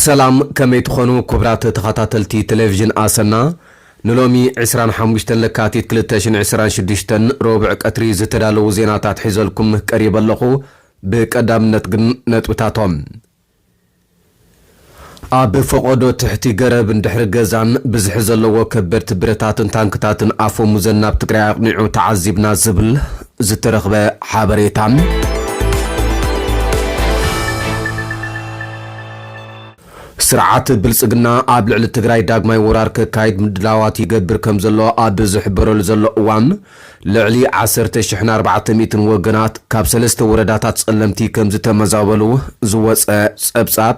ሰላም ከመይ ትኾኑ ኩብራት ተኻታተልቲ ተለቪዥን ኣሰና ንሎሚ ዕስራን ሓሙሽተን ለካቲት ክልተ ሽሕን ዕስራን ሽዱሽተን ሮብዕ ቀትሪ ዝተዳለዉ ዜናታት ሒዘልኩም ቀሪበ ኣለኹ ብቀዳምነት ግን ነጥብታቶም ኣብ ፈቖዶ ትሕቲ ገረብ እንድሕሪ ገዛን ብዝሒ ዘለዎ ከበድቲ ብረታትን ታንክታትን ኣፈሙዘን ናብ ትግራይ ኣቕኒዑ ተዓዚብና ዝብል ዝተረኽበ ሓበሬታ። ስርዓት ብልፅግና ኣብ ልዕሊ ትግራይ ዳግማይ ወራር ከካይድ ምድላዋት ይገብር ከምዘሎ ኣብ ዝሕበረሉ ዘሎ እዋን፣ ልዕሊ ዓሰርተ ሽሕን ኣርባዕተ ሚእትን ወገናት ካብ ሰለስተ ወረዳታት ጸለምቲ ከምዝተመዛበሉ ዝወጸ ጸብጻብ።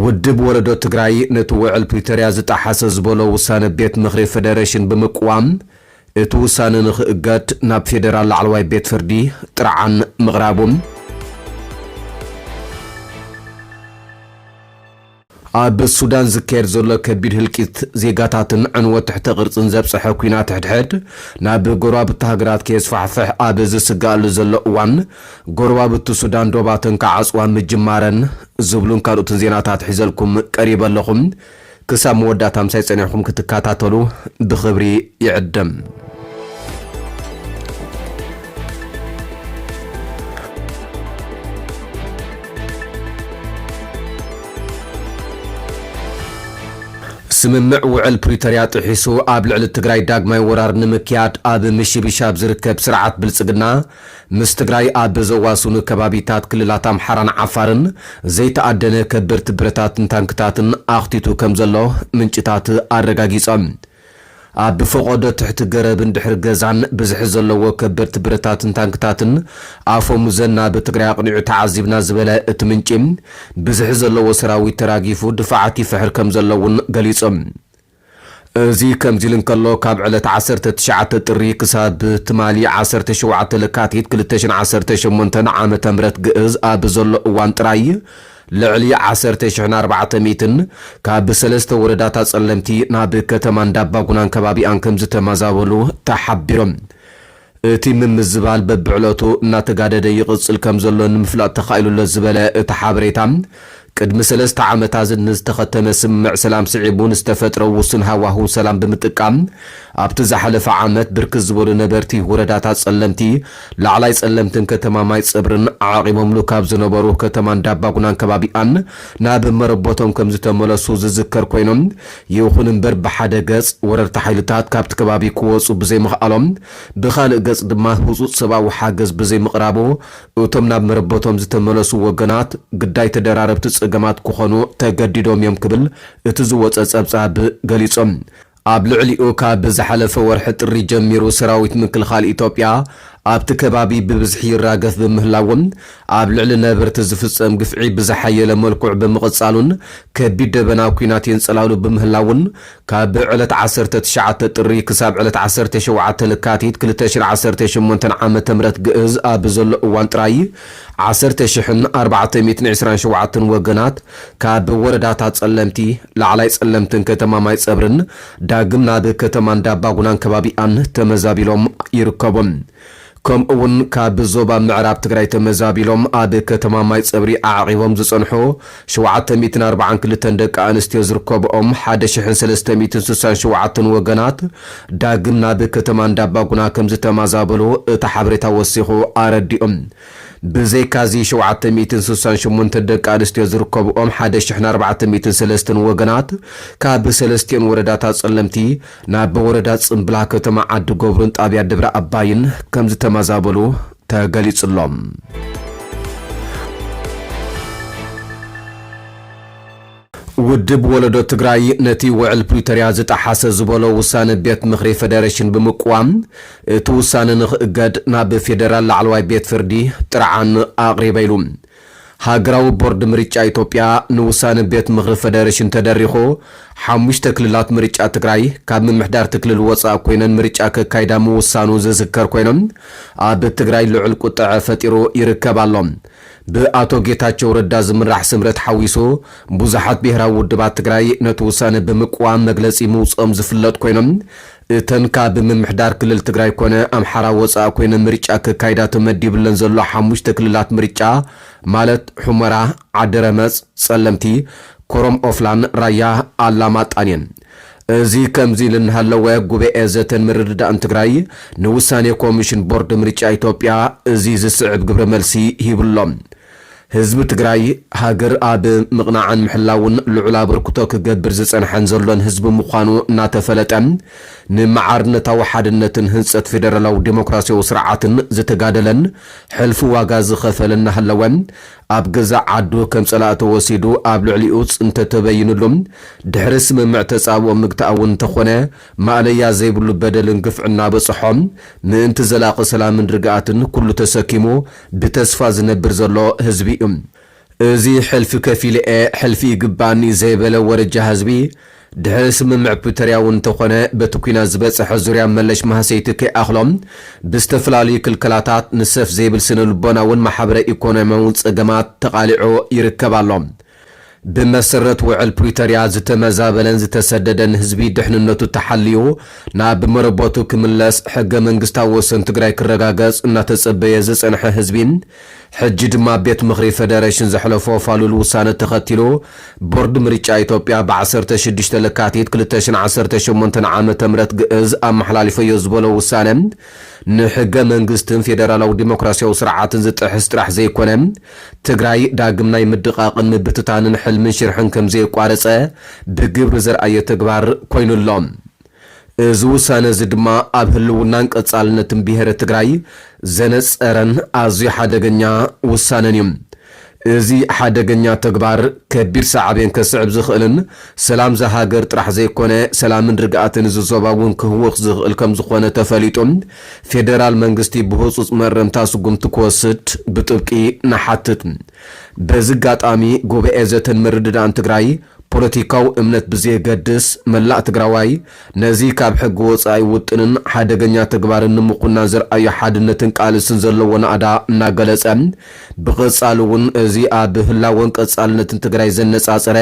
ውድብ ወለዶ ትግራይ ነቲ ውዕል ፕሪቶርያ ዝጠሓሰ ዝበሎ ውሳነ ቤት ምኽሪ ፈደረሽን ብምቅዋም እቲ ውሳነ ንክእገድ ናብ ፌደራል ላዕለዋይ ቤት ፍርዲ ጥርዓን ምቕራቡ። ኣብ ሱዳን ዝካየድ ዘሎ ከቢድ ህልቂት ዜጋታትን ዕንወት ትሕተ ቅርጽን ዘብጸሐ ኲናት ሕድሕድ ናብ ጎረባብቲ ሃገራት ከየስፋሕፍሕ ኣብ ዝስገኣሉ ዘሎ እዋን ጎረባብቲ ሱዳን ዶባተን ክዓጽዋ ምጅማረን ዝብሉን ካልኦትን ዜናታት ሒዘልኩም ቀሪበ ኣለኹ ክሳብ መወዳእታ ምሳይ ጸኒሕኩም ክትከታተሉ ብኽብሪ ይዕድም። ስምምዕ ውዕል ፕሪቶርያ ጥሒሱ ኣብ ልዕሊ ትግራይ ዳግማይ ወራር ንምክያድ ኣብ ምሽብሻብ ዝርከብ ስርዓት ብልፅግና ምስ ትግራይ ኣብ ዘዋስኑ ከባቢታት ክልላት ኣምሓራን ዓፋርን ዘይተኣደነ ከበድቲ ብረታትን ታንክታትን ኣኽቲቱ ከምዘሎ ምንጭታት ኣረጋጊፆም። ኣብ ፈቖዶ ትሕቲ ገረብን ድሕሪ ገዛን ብዝሒ ዘለዎ ከበድቲ ብረታትን ታንክታትን ኣፈሙዘን ናብ ትግራይ ኣቕኒዑ ተዓዚብና ዝበለ እቲ ምንጪ፣ ብዝሒ ዘለዎ ሰራዊት ተራጊፉ ድፋዓት ይፍሕር ከምዘሎ እውን ገሊጹ። እዚ ከምዚ ኢሉ እንከሎ ካብ ዕለት ዓሰርተ ትሽዓተ ጥሪ ክሳብ ትማሊ ዓሰርተ ሸውዓተ ለካቲት ክልተ ሽሕን ዓሰርተ ሸሞንተን ዓመተ ምህረት ግእዝ ኣብ ዘሎ እዋን ጥራይ፣ ልዕሊ ዓሰርተ ሽሕን ኣርባዕተ ሚእትን ካብ ሰለስተ ወረዳታት ፀለምቲ ናብ ከተማ እንዳባጉናን ከባቢኣን ከምዝተመዛበሉ ተሓቢሮም። እቲ ምምዝባል በቢዕለቱ እናተጋደደ ይቕፅል ከምዘሎ ንምፍላጥ ተኻኢሉ'ሎ ዝበለ እቲ ሓበሬታ፣ ቅድሚ ሰለስተ ዓመታት ንዝተኸተመ ስምምዕ ሰላም ስዒቡ ንዝተፈጥረ ውሱን ሃዋህው ሰላም ብምጥቃም ኣብቲ ዝሓለፈ ዓመት ብርክት ዝበሉ ነበርቲ ወረዳታት ፀለምቲ ላዕላይ ጸለምትን ከተማ ማይጸብርን ዓቚቦምሉ ካብ ዝነበሩ ከተማ እንዳባጉናን ከባቢኣን ናብ መረቦቶም ከምዝተመለሱ ዝዝከር ኮይኑ፣ ይኹን እምበር ብሓደ ገጽ ወረርቲ ሓይልታት ካብቲ ከባቢ ክወጹ ብዘይምኽኣሎም ብኻልእ ገጽ ድማ ህጹጽ ሰብኣዊ ሓገዝ ብዘይምቕራቡ እቶም ናብ መረቦቶም ዝተመለሱ ወገናት ግዳይ ተደራረብቲ ጸገማት ክኾኑ ተገዲዶም እዮም ክብል እቲ ዝወጸ ጸብጻብ ገሊጹ። ኣብ ልዕሊኡ ካብ ዝሓለፈ ወርሒ ጥሪ ጀሚሩ ሰራዊት ምክልኻል ኢትዮጵያ ኣብቲ ከባቢ ብብዝሒ ይራገፍ ብምህላዉን ኣብ ልዕሊ ነበርቲ ዝፍፀም ግፍዒ ብዝሓየለ መልኩዕ ብምቕፃሉን ከቢድ ደበና ኲናት የንፀላሉ ብምህላዉን ካብ ዕለት ዓሰርተ ትሽዓተ ጥሪ ክሳብ ዕለት ዓሰርተ ሸውዓተ ለካቲት ክልተ ሽሕ ዓሰርተ ሸሞንተ ዓመተ ምህረት ግእዝ ኣብ ዘሎ እዋን ጥራይ ዓሰርተ ሽሕን ኣርባዕተ ሚእትን ዕስራን ሸውዓተን ወገናት ካብ ወረዳታት ፀለምቲ፣ ላዕላይ ፀለምትን ከተማ ማይፀብሪን ዳግም ናብ ከተማ እንዳባጉናን ከባቢኣን ተመዛቢሎም ይርከቡ። ከምኡ እውን ካብ ዞባ ምዕራብ ትግራይ ተመዛቢሎም ኣብ ከተማ ማይፀብሪ ኣዕቒቦም ዝፀንሑ ሸውዓተ ሚእትን ኣርብዓን ክልተን ደቂ ኣንስትዮ ዝርከብኦም ሓደ ሽሕን ሰለስተ ሚእትን ስሳን ሸውዓተን ወገናት ዳግም ናብ ከተማ እንዳባጉና ከምዝተማዛበሉ እቲ ሓበሬታ ወሲኹ ኣረዲኡ። ብዘይካ'ዚ ሸውዓተ ሚእትን ስሳን ሸሞንተን ደቂ ኣንስትዮ ዝርከብኦም ሓደ ሽሕን ኣርባዕተ ሚእትን ሰለስተን ወገናት ካብ ሰለስቲኦን ወረዳታት ጸለምቲ ናብ ወረዳ ጽምብላ ከተማ ዓዲ ገብሩን ጣብያ ደብረ ኣባይን ከምዝተማዛበሉ ተገሊጹ'ሎ። ውድብ ወለዶ ትግራይ ነቲ ውዕል ፕሪቶርያ ዝጠሓሰ ዝበሎ ውሳነ ቤት ምኽሪ ፌደሬሽን ብምቅዋም እቲ ውሳነ ንክእገድ ናብ ፌደራል ላዕለዋይ ቤት ፍርዲ ጥርዓን ኣቕሪበ ኢሉ። ሃገራዊ ቦርድ ምርጫ ኢትዮጵያ ንውሳነ ቤት ምኽሪ ፈደረሽን ተደሪኹ ሓሙሽተ ክልላት ምርጫ ትግራይ ካብ ምምሕዳርቲ ክልል ወፃእ ኮይነን ምርጫ ከካይዳ ምውሳኑ ዝዝከር ኮይኑ ኣብ ትግራይ ልዑል ቁጠዐ ፈጢሩ ይርከብ ኣሎ። ብኣቶ ጌታቸው ረዳ ዝምራሕ ስምረት ሓዊሱ ብዙሓት ብሄራዊ ውድባት ትግራይ ነቲ ውሳነ ብምቅዋም መግለፂ ምውፅኦም ዝፍለጥ ኮይኑ እተን ካብ ምምሕዳር ክልል ትግራይ ኮነ ኣምሓራ ወፃእ ኮይነን ምርጫ ከካይዳ ተመዲብለን ዘሎ ሓሙሽተ ክልላት ምርጫ ማለት ሑመራ፣ ዓዲረመፅ፣ ፀለምቲ፣ ኮረም ኦፍላን ራያ ኣላማጣን እየን። እዚ ከምዚ ኢሉ እናሃለወ ጉበኤ ዘተን ምርድዳእን ትግራይ ንውሳኔ ኮሚሽን ቦርድ ምርጫ ኢትዮጵያ እዚ ዝስዕብ ግብረ መልሲ ሂቡ'ሎ። ህዝቢ ትግራይ ሃገር ኣብ ምቕናዕን ምሕላውን ልዑል ኣበርክቶ ክገብር ዝጸንሐን ዘሎን ህዝቢ ምዃኑ እናተፈለጠ፣ ንማዕርነታዊ ሓድነትን ህንጸት ፌደራላዊ ደሞክራሲያዊ ስርዓትን ዝተጋደለን ሕልፊ ዋጋ ዝኸፈለን እናሃለወ፣ ኣብ ገዛእ ዓዱ ከም ጸላኢ ተወሲዱ ኣብ ልዕሊኡ ጽንተት ተበይንሉ ድሕሪ ስምምዕ ተጻብኦ ምግታእ'ውን እንተኾነ ማእለያ ዘይብሉ በደልን ግፍዕን እናበጸሖ ምእንቲ ዘላቒ ሰላምን ርግኣትን ኩሉ ተሰኪሙ ብተስፋ ዝነብር ዘሎ ህዝቢ እዩ። እዚ ሕልፊ ከፊለ'የ ሕልፊ ይግበኣኒ ዘይበለ ወረጃ ህዝቢ፣ ድሕሪ ስምምዕ ፕሪቶርያ'ውን እንተኾነ በቲ ኲናት ዝበፀሐ ዙርያ መለሽ ማህሰይቲ ከይኣኽሎ ብዝተፈላለዩ ክልከላታት ንሰፍ ዘይብል ስነ-ልቦና'ውን ማሕበረ-ኢኮኖሚያ'ውን ፀገማት ተቓሊዑ ይርከብ ኣሎ። ብመሰረት ውዕል ፕሪቶርያ ዝተመዛበለን ዝተሰደደን ህዝቢ ድሕንነቱ ተሓልዩ ናብ መረበቱ ክምለስ፣ ሕገ መንግስታዊ ወሰን ትግራይ ክረጋገፅ እናተፀበየ ዝፀንሐ ህዝቢ ሕጂ ድማ ቤት ምኽሪ ፌደሬሽን ዘሕለፎ ፋሉል ውሳነ ተኸቲሉ ቦርድ ምርጫ ኢትዮጵያ ብ ዓሰርተ ሽዱሽተ ለካቲት ክልተ ሽሕን ዓሰርተ ሸሞንተን ዓመተ ምህረት ግእዝ ኣመሓላሊፈዮ ዝበሎ ውሳነ ንሕገ መንግስትን ፌደራላዊ ዲሞክራሲያዊ ስርዓትን ዝጥሕስ ጥራሕ ዘይኮነ ትግራይ ዳግም ናይ ምድቓቕን ምብትታንን ሕልምን ሽርሕን ከምዘየቋረፀ ብግብሪ ዘርኣየ ተግባር ኮይኑ ኣሎ። እዚ ውሳነ እዚ ድማ ኣብ ህልውናን ቀፃልነትን ብሄረ ትግራይ ዘነፀረን ኣዝዩ ሓደገኛ ውሳነን እዩ። እዚ ሓደገኛ ተግባር ከቢድ ሳዕቤን ከስዕብ ዝኽእልን ሰላም እዛ ሃገር ጥራሕ ዘይኮነ ሰላምን ርግኣትን እዚ ዞባ እውን ክህውኽ ዝኽእል ከምዝኾነ ተፈሊጡ ፌደራል መንግስቲ ብህፁፅ መእረምታ ስጉምቲ ክወስድ ብጥብቂ ንሓትት። በዚ ኣጋጣሚ ጉባኤ ዘተን ምርድዳእን ትግራይ ፖለቲካዊ እምነት ብዘየገድስ መላእ ትግራዋይ ነዚ ካብ ሕጊ ወፃኢ ውጥንን ሓደገኛ ተግባርን ንምኹናን ዘርኣዮ ሓድነትን ቃልስን ዘለዎ ናእዳ እናገለፀ ብቐፃሊ እውን እዚ ኣብ ህላወን ቀፃልነትን ትግራይ ዘነፃፀረ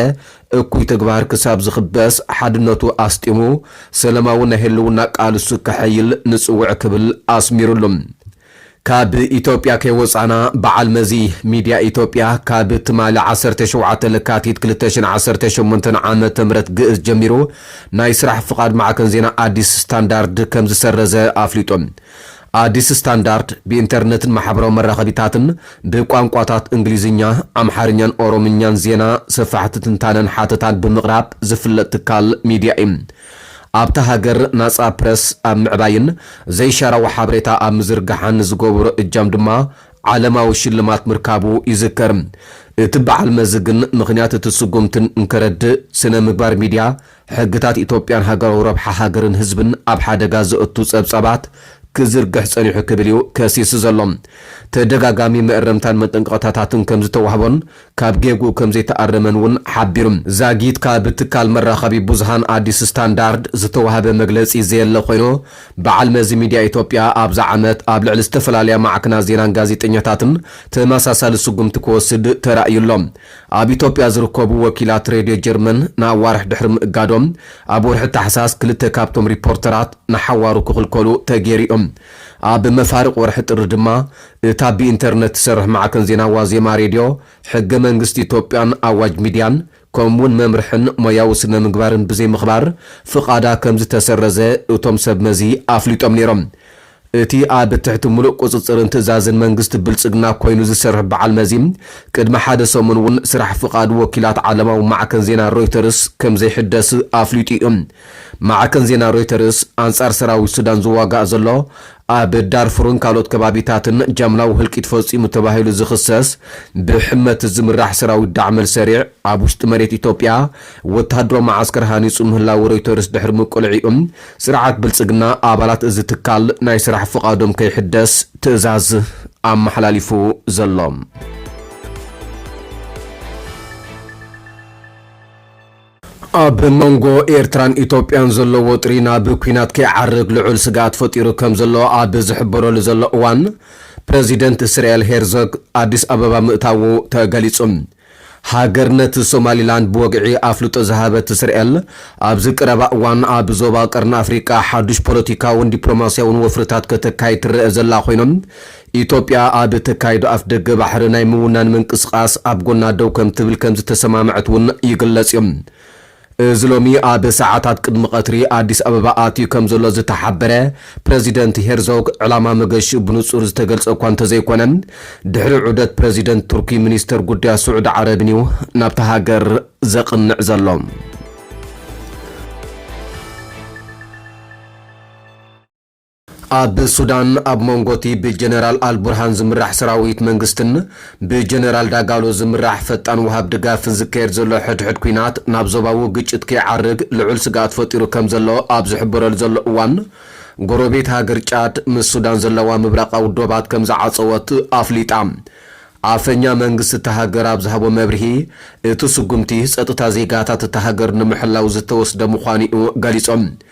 እኩይ ተግባር ክሳብ ዝኽበስ ሓድነቱ ኣስጢሙ ሰለማዊ ናይ ህልውና ቃልሱ ከሐይል ንጽውዕ ክብል ኣስሚርሉ። ካብ ኢትዮጵያ ከይወጻና በዓል መዚ ሚድያ ኢትዮጵያ ካብ ትማሊ ዓሰርተ ሸውዓተ ለካቲት ክልተ ሽሕን ዓሰርተ ሸሞንተን ዓመተ ምህረት ግእዝ ጀሚሩ ናይ ስራሕ ፍቓድ ማዕከን ዜና ኣዲስ ስታንዳርድ ከምዝሰረዘ ኣፍሊጡ። ኣዲስ ስታንዳርድ ብኢንተርነትን ማሕበራዊ መራኸቢታትን ብቋንቋታት እንግሊዝኛ፣ ኣምሓርኛን ኦሮምኛን ዜና፣ ሰፋሕቲ ትንታነን ሓተታን ብምቕራብ ዝፍለጥ ትካል ሚድያ እዩ። ኣብታ ሃገር ናጻ ፕረስ ኣብ ምዕባይን ዘይሻራዊ ሓበሬታ ኣብ ምዝርጋሕን ንዝገበሮ እጃም ድማ ዓለማዊ ሽልማት ምርካቡ ይዝከር። እቲ በዓል መዚ ግን ምኽንያት እቲ ስጉምቲ እንከረድእ ስነ ምግባር ሚድያ፣ ሕግታት ኢትዮጵያን ሃገራዊ ረብሓ ሃገርን ህዝብን ኣብ ሓደጋ ዘእቱ ጸብጻባት ክዝርግሕ ጸኒሑ ክብል እዩ ከሲሱ ዘሎ። ተደጋጋሚ መእረምታን መጠንቀቕታታትን ከም ዝተዋህቦን ካብ ጌግኡ ከም ዘይተኣረመን እውን ሓቢሩ። ዛጊት ካብ ትካል መራኸቢ ብዙሃን ኣዲስ ስታንዳርድ ዝተዋህበ መግለጺ ዘየለ ኮይኑ፣ በዓል መዚ ሚድያ ኢትዮጵያ ኣብዛ ዓመት ኣብ ልዕሊ ዝተፈላለያ ማዕክናት ዜናን ጋዜጠኛታትን ተመሳሳሊ ስጉምቲ ክወስድ ተራእዩ ኣሎ። ኣብ ኢትዮጵያ ዝርከቡ ወኪላት ሬድዮ ጀርመን ንኣዋርሕ ድሕሪ ምእጋዶም፣ ኣብ ወርሒ ታሕሳስ ክልተ ካብቶም ሪፖርተራት ንሓዋሩ ክኽልከሉ ተገይሩ እዩ። ኣብ መፋርቕ ወርሒ ጥሪ ድማ፣ እታ ብኢንተርነት ትሰርሕ ማዕከን ዜና ዋዜማ ሬድዮ፣ ሕገ መንግስቲ ኢትዮጵያን ኣዋጅ ሚድያን ከምኡ'ውን መምርሕን ሞያዊ ስነ-ምግባርን ብዘይምኽባር ፍቓዳ ከምዝተሰረዘ እቶም ሰብ መዚ ኣፍሊጦም ነይሮም። እቲ ኣብ ትሕቲ ምሉእ ቁፅፅርን ትእዛዝን መንግስቲ ብልፅግና ኮይኑ ዝሰርሕ በዓል መዚ ቅድሚ ሓደ ሰሙን እውን ስራሕ ፍቓድ ወኪላት ዓለማዊ ማዕከን ዜና ሮይተርስ ከምዘይሕደስ ኣፍሊጡ እዩ። ማዕከን ዜና ሮይተርስ ኣንፃር ሰራዊት ሱዳን ዝዋጋእ ዘሎ ኣብ ዳርፉርን ካልኦት ከባቢታትን ጃምላዊ ህልቂት ፈፂሙ ተባሂሉ ዝኽሰስ ብሕመት ዝምራሕ ሰራዊት ዳዕመል ሰሪዕ ኣብ ውሽጢ መሬት ኢትዮጵያ ወተሃደራዊ መዓስከር ሃኒፁ ምህላዉ ሮይተርስ ድሕሪ ምቅልዒኡ ስርዓት ብልፅግና ኣባላት እዚ ትካል ናይ ስራሕ ፍቓዶም ከይሕደስ ትእዛዝ ኣመሓላሊፉ ዘሎ። ኣብ መንጎ ኤርትራን ኢትዮጵያን ዘሎ ወጥሪ ናብ ኲናት ከይዓርግ ልዑል ስግኣት ፈጢሩ ከም ዘሎ ኣብ ዝሕበረሉ ዘሎ እዋን ፕረዚደንት እስራኤል ሄርዞግ ኣዲስ ኣበባ ምእታዉ ተገሊጹ። ሃገርነት ሶማሊላንድ ብወግዒ ኣፍልጦ ዝሃበት እስርኤል፣ ኣብዚ ቀረባ እዋን ኣብ ዞባ ቀርኒ ኣፍሪቃ ሓዱሽ ፖለቲካውን ዲፕሎማስያውን ወፍርታት ከተካይድ ትረኣ ዘላ ኮይና፣ ኢትዮጵያ ኣብ እተካይዶ ኣፍደገ ባሕሪ ናይ ምውናን ምንቅስቓስ ኣብ ጎና ደው ከምትብል ከምዝተሰማምዐት'ውን ይግለጽ'ዩ። እዚ ሎሚ ኣብ ሰዓታት ቅድሚ ቀትሪ ኣዲስ ኣበባ ኣትዩ ከምዘሎ ዝተሓበረ ፕረዚደንት ሄርዞግ፣ ዕላማ መገሽኡ ብንጹር ዝተገልጸ እኳ እንተዘይኮነ፣ ድሕሪ ዑደት ፕረዚደንት ቱርኪ ሚኒስተር ጉዳያት ስዑዲ ዓረብን'ዩ ናብታ ሃገር ዘቕንዕ ዘሎ። ኣብ ሱዳን ኣብ መንጎ'ቲ ብጀነራል ኣልቡርሃን ዝምራሕ ሰራዊት መንግስትን ብጀነራል ዳጋሎ ዝምራሕ ፈጣን ወሃብ ድጋፍን ዝካየድ ዘሎ ሕድሕድ ኲናት ናብ ዞባዊ ግጭት ከይዓርግ ልዑል ስግኣት ፈጢሩ ከምዘሎ ኣብ ዝሕበረሉ ዘሎ እዋን ጎረቤት ሃገር ጫድ ምስ ሱዳን ዘለዋ ምብራቓዊ ዶባት ከምዝዓጸወት ኣፍሊጣ። ኣፈኛ መንግስቲ እታ ሃገር ኣብ ዝሃቦ መብርሂ እቲ ስጉምቲ ጸጥታ ዜጋታት እታ ሃገር ንምሕላው ዝተወስደ ምዃኑ'ዩ ገሊጾም።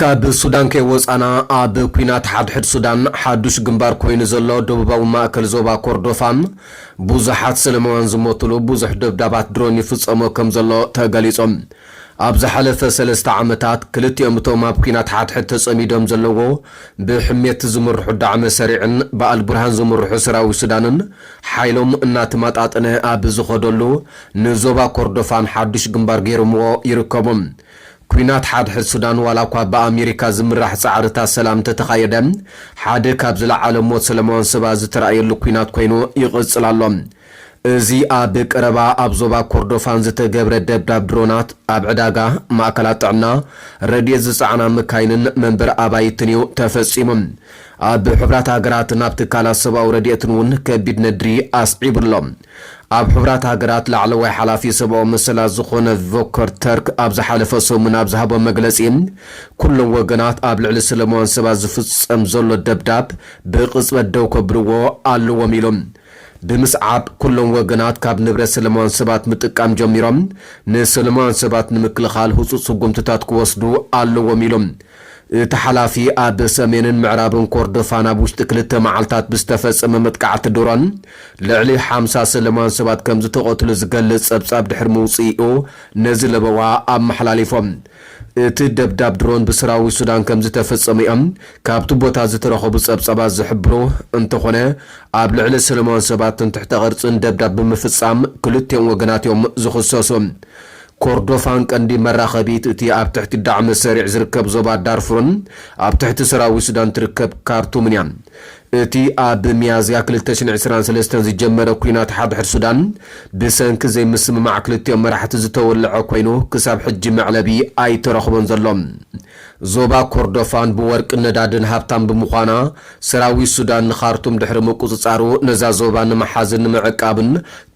ካብ ሱዳን ከይወጻና፣ ኣብ ኲናት ሓድሕድ ሱዳን ሓዱሽ ግንባር ኮይኑ ዘሎ ደቡባዊ ማእከል ዞባ ኮርዶፋ፣ ብዙሓት ሰለማውያን ዝሞቱሉ ብዙሕ ደብዳባት ድሮን ይፍጸሞ ከም ዘሎ ተገሊጹ። ኣብ ዝሓለፈ ሰለስተ ዓመታት፣ ክልቲኦም እቶም ኣብ ኲናት ሓድሕድ ተጸሚዶም ዘለዎ ብሕሜቲ ዝምርሑ ዳዕመ ሰሪዕን ብኣልቡርሃን ዝምርሑ ሰራዊት ሱዳንን ሓይሎም እናተመጣጠነ ኣብ ዝኸደሉ፣ ንዞባ ኮርዶፋን ሓዱሽ ግንባር ገይሮምዎ ይርከቡ። ኲናት ሓድሕድ ሱዳን ዋላኳ ብኣሜሪካ ዝምራሕ ጻዕርታት ሰላም እንተተኻየደ፣ ሓደ ካብ ዝለዓለ ሞት ሰለማውያን ሰባት ዝተራእየሉ ኲናት ኮይኑ ይቕጽል ኣሎ። እዚ ኣብ ቀረባ ኣብ ዞባ ኮርዶፋን ዝተገብረ ደብዳብ ድሮናት፣ ኣብ ዕዳጋ፣ ማእከላት ጥዕና፣ ረድኤት ዝጸዓና መካይንን መንበሪ ኣባይትን'ዩ ተፈጺሙ። ኣብ ሕቡራት ሃገራትን ኣብ ትካላት ሰብኣዊ ረድኤትን'ውን ከቢድ ነድሪ ኣስዒቡ ኣሎ። ኣብ ሕቡራት ሃገራት ላዕለዋይ ሓላፊ ሰብኣዊ መሰላት ዝዀነ ቮከር ተርክ ኣብ ዝሓለፈ ሰሙን ኣብ ዝሃቦ መግለጺ፣ ኵሎም ወገናት ኣብ ልዕሊ ሰለማውያን ሰባት ዝፍጸም ዘሎ ደብዳብ ብቕጽበት ደው ከብልዎ ኣለዎም ኢሉ። ብምስዓብ፣ ኵሎም ወገናት ካብ ንብረት ሰለማውያን ሰባት ምጥቃም ጀሚሮም ንሰለማውያን ሰባት ንምክልኻል ህጹጽ ስጕምትታት ክወስዱ ኣለዎም ኢሉ። እቲ ሓላፊ፣ ኣብ ሰሜንን ምዕራብን ኮርዶፋን ኣብ ውሽጢ ክልተ መዓልታት ብዝተፈጸመ መጥቃዕቲ ድሮን ልዕሊ ሓምሳ ሰለማውያን ሰባት ከምዝተቐትሉ ዝገልጽ ጸብጻብ ድሕሪ ምውጽኢኡ ነዚ ለበዋ ኣመሓላሊፎ። እቲ ደብዳብ ድሮን ብሰራዊት ሱዳን ከምዝተፈጸመ'ዮም ካብቲ ቦታ ዝተረኸቡ ጸብጻባት ዝሕብሩ፣ እንተኾነ ኣብ ልዕሊ ሰለማውያን ሰባትን ትሕተ ቅርጽን ደብዳብ ብምፍጻም ክልቲኦም ወገናት'ዮም ዝኽሰሱ። ኮርዶፋን ቀንዲ መራኸቢት እቲ ኣብ ትሕቲ ዳዕመ-ሰሪዕ ዝርከብ ዞባ ዳርፉርን ኣብ ትሕቲ ሰራዊት ሱዳን ትርከብ ካርቱምን እያ። እቲ ኣብ ሚያዝያ ክልተ ሽሕን ዕስራን ሰለስተን ዝጀመረ ኲናት ሓድሕድ ሱዳን፣ ብሰንኪ ዘይምስምማዕ ክልቲኦም መራሕቲ ዝተወልዐ ኰይኑ፣ ክሳብ ሕጂ መዕለቢ ኣይተረኽቦን ዘሎ። ዞባ ኮርዶፋን ብወርቅን ነዳድን ሃብታም ብምዃና፣ ሰራዊት ሱዳን ንኻርቱም ድሕሪ ምቁጽጻሩ ነዛ ዞባ ንምሓዝን ንምዕቃብን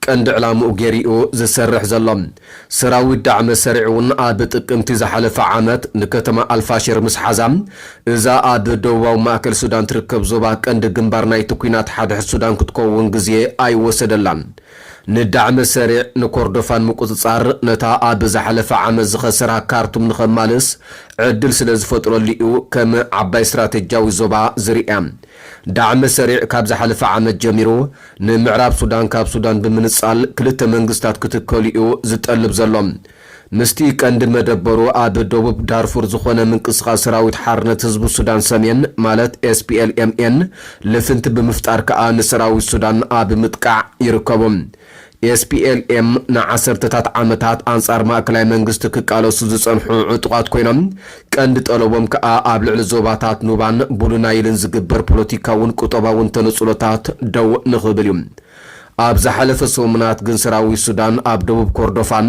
ቀንዲ ዕላምኡ ገይሩ'ዩ ዝሰርሕ ዘሎ። ሰራዊት ዳዕመ-ሰሪዕ'ውን ኣብ ጥቅምቲ ዝሓለፈ ዓመት ንከተማ ኣልፋሽር ምስ ሓዛ፣ እዛ ኣብ ደቡባዊ ማእከል ሱዳን ትርከብ ዞባ ቀንዲ ግንባር ናይቲ ኲናት ሓድሕድ ሱዳን ክትከውን ግዜ ኣይወሰደላን። ንዳዕመ ሰሪዕ፣ ንኮርዶፋን ምቁጽጻር፣ ነታ ኣብ ዝሓለፈ ዓመት ዝኸሰራ ካርቱም ንኸማልስ ዕድል ስለ ዝፈጥረሉ'ዩ ከም ዓባይ ስትራተጂያዊ ዞባ ዝርእያ። ዳዕመ ሰሪዕ ካብ ዝሓለፈ ዓመት ጀሚሩ ንምዕራብ ሱዳን ካብ ሱዳን ብምንጻል ክልተ መንግስታት ክትከሉ'ዩ ዝጠልብ ዘሎ። ምስቲ ቀንዲ መደበሩ ኣብ ደቡብ ዳርፉር ዝኾነ ምንቅስቓስ ሰራዊት ሓርነት ህዝቢ ሱዳን ሰሜን ማለት SPLMN ልፍንቲ ብምፍጣር ከኣ ንሰራዊት ሱዳን ኣብ ምጥቃዕ ይርከቡ። SPLM ንዓሰርተታት ዓመታት ኣንጻር ማእከላይ መንግስቲ ክቃለሱ ዝጸንሑ ዕጡቓት ኮይኖም፣ ቀንዲ ጠለቦም ከኣ ኣብ ልዕሊ ዞባታት ኑባን ቡሉ ናይልን ዝግበር ፖለቲካውን ቁጠባውን ተነጽሎታት ደው ንኽብል እዩ። ኣብ ዝሓለፈ ሰሙናት ግን ሰራዊት ሱዳን ኣብ ደቡብ ኮርዶፋን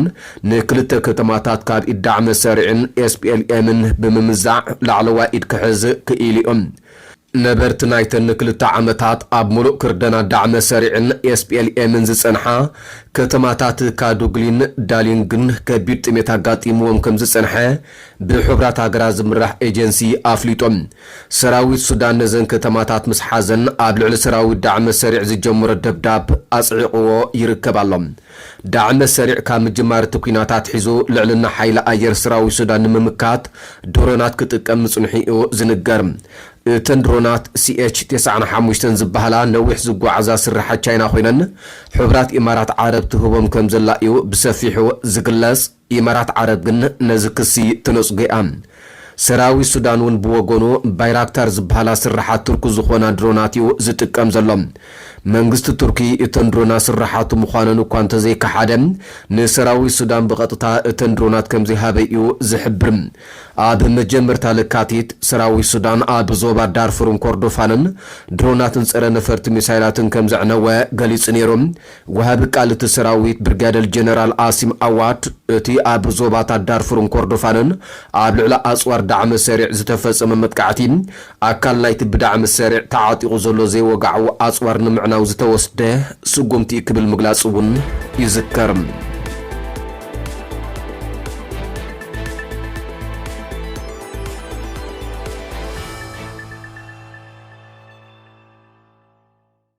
ንክልተ ከተማታት ካብ ኢድ ዳዕመ ሰሪዕን ኤስፒኤልኤምን ብምምዛዕ ላዕለዋይ ኢድ ክሕዝ ክኢሉ'ዩ። ነበርቲ ናይተን ንክልተ ዓመታት ኣብ ምሉእ ክርደና ዳዕመ ሰሪዕን ኤስፒኤልኤምን ዝጸንሓ ከተማታት ካዱግሊን ዳሊንግን ከቢድ ጥሜት ኣጋጢምዎም ከምዝጸንሐ ብሕቡራት ሃገራት ዝምራሕ ኤጀንሲ ኣፍሊጡ። ሰራዊት ሱዳን ነዘን ከተማታት ምስ ሓዘን ኣብ ልዕሊ ሰራዊት ዳዕመ-ሰሪዕ ዝጀመሮ ደብዳብ ኣጽዒቕዎ ይርከብ ኣሎ። ዳዕመ-ሰሪዕ ካብ ምጅማር እቲ ኲናት ኣትሒዙ ልዕልና ሓይሊ ኣየር ሰራዊት ሱዳን ንምምካት ድሮናት ክጥቀም ምጽንሑ'ዩ ዝንገር። እተን ድሮናት ሲኤች ተስዓን ሓሙሽተን ዝበሃላ ነዊሕ ዝጓዓዛ ስርሓት ቻይና ኮይነን ሕቡራት ኢማራት ዓረብ ትህቦም ከምዘላ'ዩ ብሰፊሑ ዝግለጽ። ኢማራት ዓረብ ግን ነዚ ክሲ ተነጽጎ'ያ። ሰራዊት ሱዳን'ውን ብወገኑ፣ ባይራክታር ዝብሃላ ስርሓት ቱርኪ ዝኾና ድሮናት'ዩ ዝጥቀም ዘሎ። መንግስቲ ቱርኪ እተን ድሮናት ስርሓቱ ምዃነን እኳ እንተዘይከሓደ፣ ንሰራዊት ሱዳን ብቐጥታ እተን ድሮናት ከምዘይሃበ'ዩ ዝሕብር። ኣብ መጀመርታ ለካቲት፣ ሰራዊት ሱዳን ኣብ ዞባ ዳርፉርን ኮርዶፋንን ድሮናትን ጸረ-ነፈርቲ ሚሳይላትን ከምዘዕነወ ገሊጹ ነይሩ። ወሃቢ ቃል እቲ ሰራዊት ብርጋደል ጀነራል ኣሲም ኣዋድ፣ እቲ ኣብ ዞባታት ዳርፉርን ኮርዶፋንን ኣብ ልዕሊ ኣጽዋር ዳዕመ ሰሪዕ ዝተፈጸመ መጥቃዕቲ፣ ኣካል ናይቲ ብዳዕመ ሰሪዕ ተዓጢቑ ዘሎ ዘይወግዓዊ ኣጽዋር ንምዕናው ዝተወስደ ስጉምቲ'ዩ ክብል ምግላጹ'ውን ይዝከር።